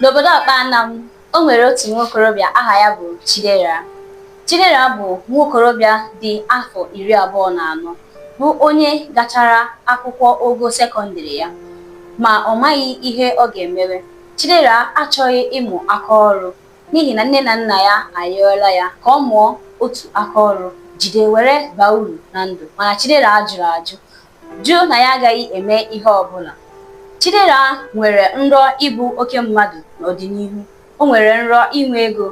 n'obodo ọkpanam o nwere otu nwa okorobịa aha ya bụ chidera chidera bụ nwa okorobịa dị afọ iri abụọ na anọ bụ onye gachara akwụkwọ ogo sekọndịrị ya ma ọ maghị ihe ọ ga-emewe chidera achọghị ịmụ aka ọrụ n'ihi na nne na nna ya arịọla ya ka ọ mụọ otu aka ọrụ jide were baa uru na ndụ mana chidera jụrụ ajụ jụ na ya agaghị eme ihe ọ bụla. Chidera nwere nrọ ịbụ oke mmadụ n'ọdịnihu, o nwere nrọ inwe ego,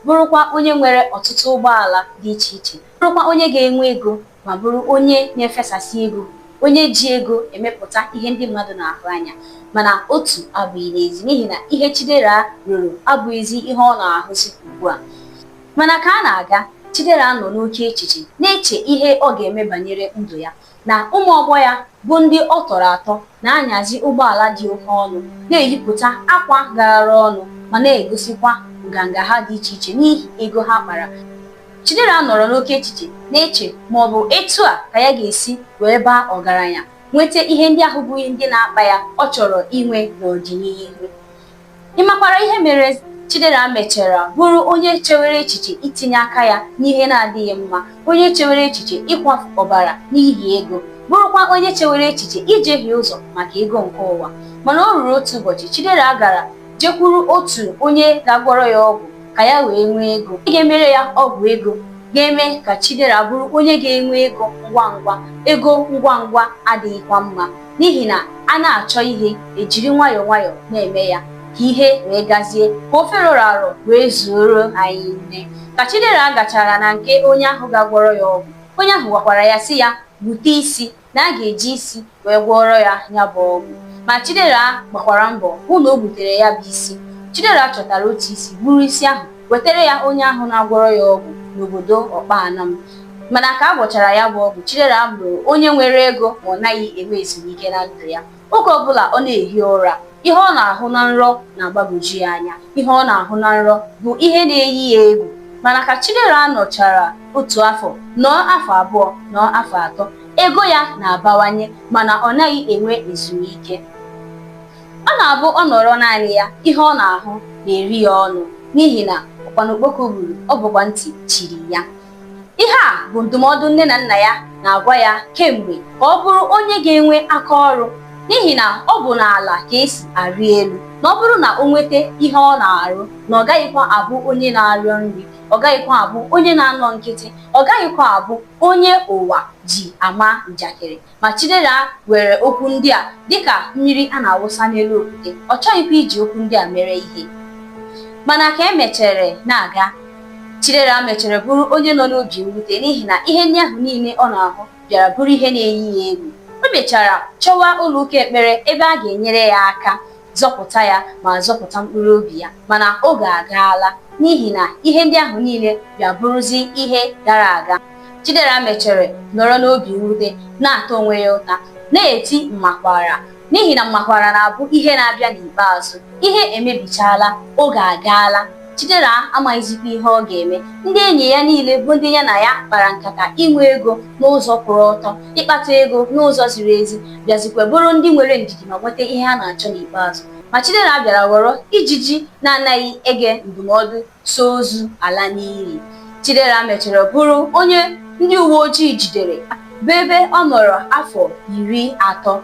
bụrụkwa onye nwere ọtụtụ ụgbọala dị iche iche, bụrụkwa onye ga-enwe ego ma bụrụ onye na-efesasị ego, onye ji ego emepụta ihe ndị mmadụ na-ahụ anya. Mana otu abụghị n'ezi n'ihi na ihe Chidera rọrọ abụghịzi ihe ọ na-ahụzi ugbu a. Mana ka a na-aga, Chidera nọ n'oke echiche, na-eche ihe ọ ga-eme banyere ndụ ya. na ụmụ ọgbọ ya bụ ndị ọ tọrọ atọ na-anyazi ụgbọala dị oke ọnụ na-eyipụta akwa garara ọnụ ma na-egosikwa nganga ha dị iche iche n'ihi ego ha kpara Chidera nọrọ n'oke echiche na-eche ma ọ bụ etu a ka ya ga-esi wee baa ọgaranya nweta ihe ndị ahụ bụ ihe ndị na-akpa ya ọ chọrọ inwe n'ọdịnihu ị makwara ihe mere Chidera mechara bụrụ onye chewere echiche itinye aka ya n'ihe na-adịghị mma onye chewere echiche ịkwafu ọbara n'ihi ego bụrụkwa onye chewere echiche ijehie ụzọ maka ego nke ụwa mana o ruru otu ụbọchị Chidera gara jekwuru otu onye ga-agwọrọ ya ọgwụ ka ya wee nwee ego ị ga-emere ya ọgwụ ego ga-eme ka Chidera bụrụ onye ga-enwe ego ngwa ngwa ego ngwa ngwa adịghịkwa mma n'ihi na a na-achọ ihe ejiri nwayọọ nwayọọ na-eme ya ka ihe wee gazie ka ofe rọrọ arọ wee zuoro anyị nri ka Chidera gachara na nke onye ahụ ga-agwọrọ ya ọgwụ onye ahụ gwakwara ya sị ya bute isi na a ga-eji isi wee gwọọrọ ya ya bụ ọgwụ ma Chidera gbakwara mbọ hụ na o butere ya bụ isi Chidera chọtara otu isi buru isi ahụ wetara ya onye ahụ na-agwọrọ ya ọgwụ n'obodo ọkpanam mana ka a gwọchara ya bụ ọgwụ chidera bụrụ onye nwere ego ma ọ naghị enwe ezumike na ndụ ya oge ọbụla ọ na-ehi ụra ihe ọ na-ahụ na nrọ na-agbagwoju ya anya ihe ọ na-ahụ na nrọ bụ ihe na-eyi ya egwu mana ka chidera nọchara otu afọ nọọ afọ abụọ nọọ afọ atọ ego ya na-abawanye mana ọ naghị enwe ezumike ọ na-abụ ọ nọrọ naanị ya ihe ọ na-ahụ na-eri ya ọnụ n'ihi na ụkpana okpoko gburu ọ bụkwa ntị chiri ya ihe a bụ ndụmọdụ nne na nna ya na-agwa ya kemgbe ka ọ bụrụ onye ga-enwe aka ọrụ n'ihi na ọ bụ n'ala ka esi arị elu na ọ bụrụ na o nweta ihe ọ na-arụ na ọ gaghịkwa abụ onye na-arịọ nri ọ gaghịkwa abụ onye na-anọ nkịtị ọ gaghịkwa abụ onye ụwa ji ama njakịrị ma Chidera were okwu ndị a dịka mmiri a na-awụsa n'elu okwute ọ chọghịkwa iji okwu ndị a mere ihe mana ka e mechere na-aga Chidera mechere bụrụ onye nọ n'obi mwute n'ihi na ihe ndị ahụ niile ọ na-ahụ bịara bụrụ ihe na-eyi ya egwu o mechara chọwa ụlọụka ekpere ebe a ga-enyere ya aka zọpụta ya ma zọpụta mkpụrụ obi ya mana oge agaala n'ihi na ihe ndị ahụ niile bịa bụrụzi ihe gara aga Chidera mechere nọrọ n'obi mwute na-ata onwe ya ụta na-eti mmakwara n'ihi na mmakwara na-abụ ihe na-abịa n'ikpeazụ ihe emebichaala oge agaala Chidera amaghịzikwa ihe ọ ga-eme. Ndị enyi ya niile bụ ndị ya na ya kpara nkata inwe ego n'ụzọ kwụrụ ọtọ, ịkpata ego n'ụzọ ziri ezi, bịazikwa bụrụ ndị nwere ndidi ma nweta ihe ha na-achọ n'ikpeazụ. Ma Chidera bịara ghọrọ ijiji na-anaghị ege ndụmọdụ so ozu ala n'ili. Chidera mechara bụrụ onye ndị uwe ojii jidere bụ ebe ọ nọrọ afọ iri atọ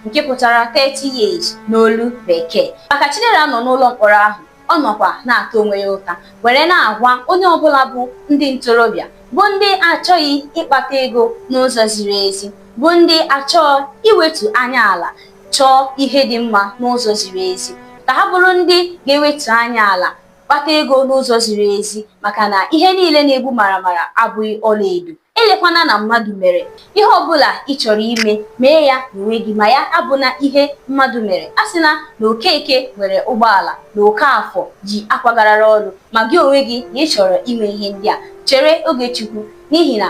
nke pụtara 30 years n'olu Bekee. Ma ka Chidera nọ n'ụlọ mkpọrọ ahụ ọ nọkwa na-ata onwe ya ụta were na-agwa onye ọbụla bụ ndị ntorobịa bụ ndị achọghị ịkpata ego n'ụzọ ziri ezi bụ ndị achọghị iwetu anya ala chọọ ihe dị mma n'ụzọ ziri ezi ka ha bụrụ ndị ga-ewetu anya ala kpata ego n'ụzọ ziri ezi maka na ihe niile na-egbu maramara abụghị ọlaedo elekwana na mmadụ mere ihe ọbụla ị chọrọ ime mee ya n'onwe gị ma ya abụna ihe mmadụ mere a sị na na okeke nwere ụgbọala na okafọ ji akwa garara ọnụ ma gị onwe gị na ị chọrọ ime ihe ndị a chere oge chukwu n'ihi na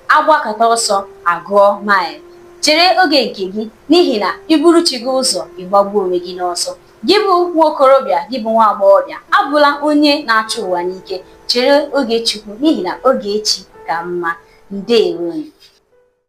a gbakata ọsọ a gụọ maịlụ chere oge nke gị n'ihi na i buru chi gị ụzọ ị gbagbuo onwe gị n'ọsọ Gị bụ nwa okorobịa, gị bụ nwa agbọghọbịa, abụla onye na-achụ ụwa n'ike. Chere oge Chukwu n'ihi na oge echi ka mma. Ndeewo nụ.